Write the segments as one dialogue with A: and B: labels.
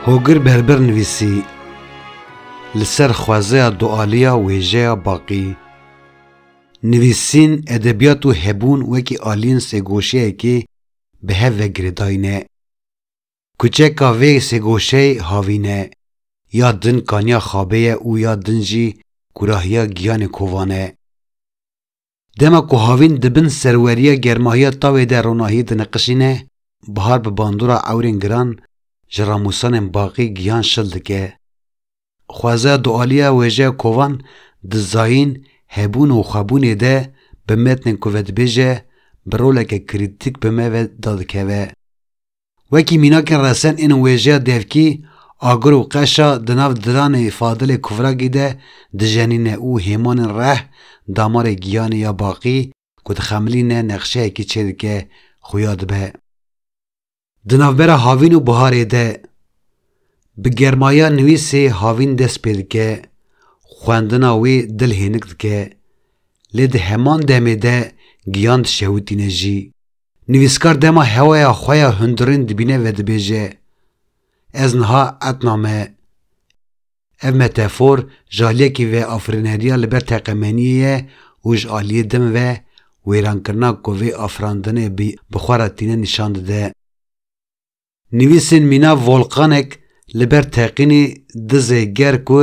A: Hogir Berber nivîsî li ser xwezeya dualiya wêjeya baqî. Nivîsîn, edebiyat û hebûn wekî aliyên sêgoşiyekê bi hev ve girêdayîne. Kuçeka vê sêgoşeyê havîn e, ya din kaniya xabê ye û ya din jî kurahiya giyanê kovan e. Dema ku havîn di bin serweriya germahiya tawê de ronahiyê diniqişîne, bihar bi bandora ewrên giran ji ramosanên baqî giyan şil dike. Xwezaya dualiya wêjeya kovan di zayîn, hebûn û xwebûnê de bi metnên ku vedibêje bi roleke krîtîk bi me ve dadikeve. Wekî mînakên resen ên wêjeya devkî, agir û qeşa di nav diranê Fadilê Kuvragî de dijenîne û hêmanên reh, damarê giyanê ya baqî ku dixemilîne nexşeyekî çêdike xuya dibe. Di navbera havîn û biharê de, bi germaya nivîsê havîn dest pê dike, xwendina wê dil hênik dike, lê di heman demê de giyan dişewitîne jî. Nivîskar dema hewaya xwe ya hundirên dibîne vedibêje, Ez niha etna me. Ev metefor ji aliyekî ve afirîneriya li ber teqemeniyê ye û ji aliyê din ve wêrankirina ku vê afirandinê bi xwe re tîne nîşan dide. Nivîsên mîna Volkanek li ber teqînê dizê ger ku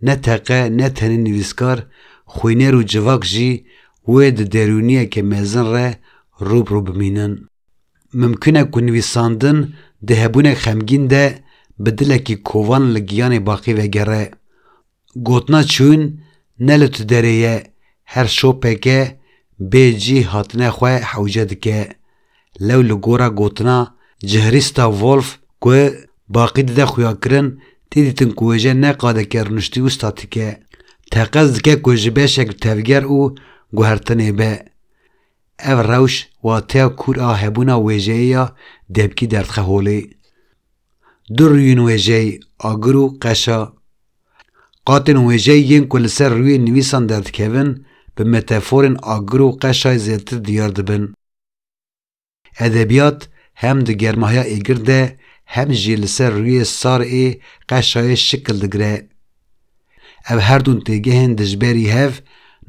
A: ne teqe ne tenê nivîskar, xwîner û civak jî wê di derûniyeke mezin re rû bi rû bimînin. Mimkun e ku nivîsandin di hebûnek xemgîn de bi dilekî kovan li giyanê baqî vegere. Gotina çûn ne li tu derê ye, her şopeke bê cî hatine xwe hewce dike. Lew li gora gotina Cihrîsta Wolf ku baqî dide xuyakirin tê dîtin ku wêje ne qadeke rûniştî û statîk e. Teqez dike ku ji beşek tevger û guhertinê be. Ev rewş wateya kûr a hebûna wêjeyê ya debkî derdxe holê. Du rûyên wêjeyê, agir û qeşa, Qatên wêjeyî yên ku li ser rûyê nivîsan derdikevin bi meteforên agir û qeşay zêdetir diyar dibin. Edebiyat hem di germahiya êgir de hem jî li ser rûyê sar ê qeşayê şikil digire. Ev her dûn têgehên dijberî hev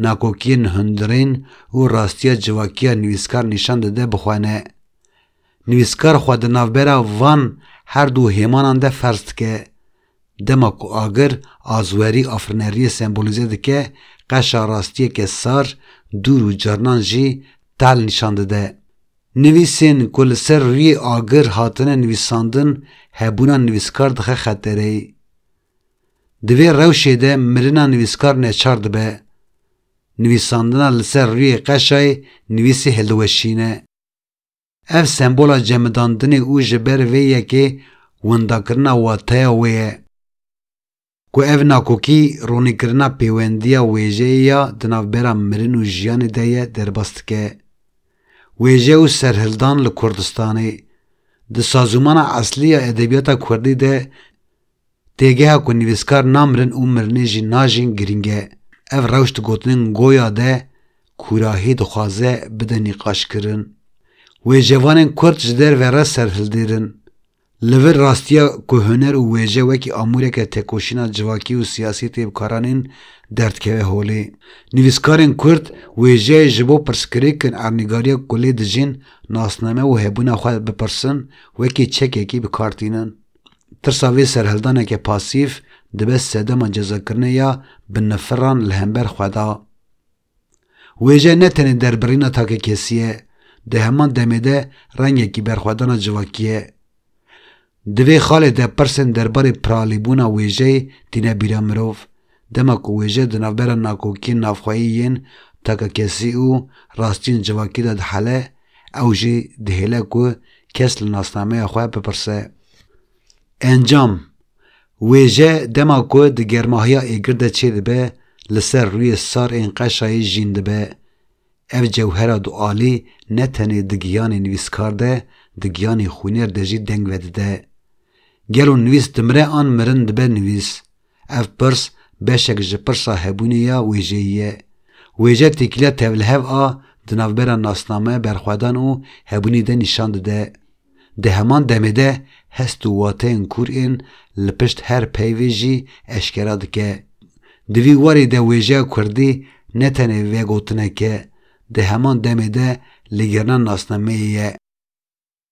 A: nakokiyên hundirên û rastiya civakiya nivîskar nîşan dide bi xwe ne. Nivîskar xwe di navbera van her dû hêmanan de ferz dike. Dema ku agir azwerî afirneriyê sembolîze dike, qeşa rastiyeke sar, dûr û carinan jî tal nîşan dide. Nivîsên ku li ser rûyê agir hatine nivîsandin hebûna nivîskar dixe xetereyê. Di vê rewşê de mirina nivîskar neçar dibe. Nivîsandina li ser rûyê qeşayê nivîsê hildiweşîne. Ev sembola cemidandinê û ji ber vê yekê windakirina wateya wê ye. Ku ev nakokî ronîkirina pêwendiya wêjeyê ya di navbera mirin û jiyanê de ye derbas dike. Wêje û serhildan li Kurdistanê, di sazûmana eslî ya edebiyata kurdî de Têgeha ku nivîskar namirin û mirinê jî najîn girîng e. Ev rewş di gotinên Goya de kûrahî dixwaze bide nîqaşkirin. Wêjevanên kurd ji derve re serhildêrin. Li vir rastiya ku huner û wêje wekî amûreke têkoşîna civakî û siyasî tê bikaranîn derdkeve holê. Nivîskarên kurd wêjeyê ji bo pirsgirêkin ernîgariya ku lê dijîn nasname û hebûna xwe bipirsin wekî çekekî bikar tînin. Tirsa vê serhildaneke pasîf dibe sedema cezakirinê ya binnifiran li hember xwe de. Wêje ne tenê derbirîna takekesî ye, di heman demê de rengekî berxwedana civakî ye. Di vê xalê de pirsên derbarê piralîbûna wêjeyê tîne bîra mirov, Dema ku wêje di navbera nakokiyên navxweyî yên takakesî û rastiyên civakî de dihele, ew jî dihêle ku kes li nasnameya xwe bipirse. Encam, Wêje dema ku di germahiya êgir de çêdibe li ser rûyê sar ên qeşayî jîn dibe. Ev cewhera dualî ne tenê di giyanê nivîskar de, di giyanê xwîner de jî deng vedide. Gelo nivîs dimire an mirin dibe nivîs? Ev pirs beşek ji pirsa hebûnê ya wêjeyî ye. Wêje têkiliya tevlihev a di navbera nasname, berxwedan û hebûnê de nîşan dide. Di heman demê de hest û wateyên kûr ên li pişt her peyvê jî eşkera dike. Di vî warî de wêjeya kurdî ne tenê vegotinek e, di heman demê de ligirina nasnameyê ye.